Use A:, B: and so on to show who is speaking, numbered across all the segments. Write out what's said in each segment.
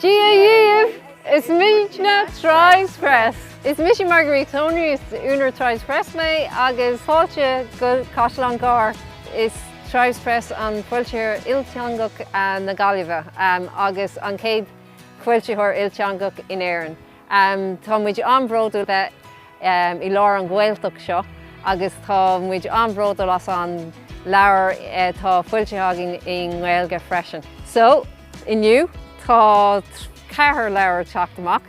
A: Dia dhíobh! Is muidne Tribes Press. Is mise Marguerite Tonery is únar Tribes Press mé agus fáilte go Caisleán Gearr. Is Tribes Press an foilsitheoir ilteangach na Gaillimhe agus an chéad foilsitheoir ilteangach in Éirinn. Tá muid an-bhródúil bheith i lár an Ghaeltacht seo agus tá muid an-bhródúil as an leabhar atá foilsithe againn i nGaeilge freisin. So, inniu, tá ceathair leabhar ag teacht amach,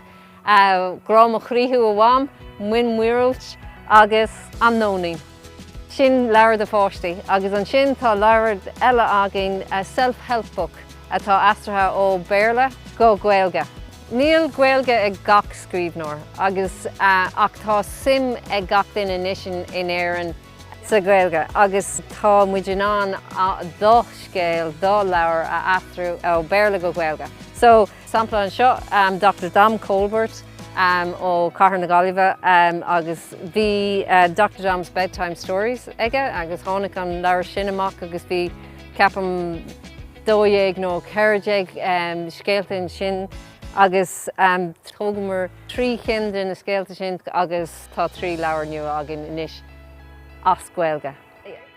A: Grá mo Chroí Thú, a Mham, Mian Míorúilt agus An Nóinín. Sin leabhar do pháistí agus ansin tá leabhar eile againn, Self Help Book, atá aistrithe ó Bhéarla go Gaeilge. Níl Gaeilge ag gach scríbhneoir agus ach tá suim ag gach duine anois in Éirinn sa Ghaeilge agus tá muid in ann do scéal, do leabhar a aistriú ó Bhéarla go Gaeilge. So. Sampla anseo, Dochtúir Dom Colbert ó Chathair na Gaillimhe agus bhí Doctor Dom's Bedtime Stories aige agus tháinig an leabhar sin amach agus bhí ceapaim dó dhéag nó ceithre déag scéalta ansin agus thógamar trí cinn de na scéalta sin agus tá trí leabhar nua againn anois as Gaeilge.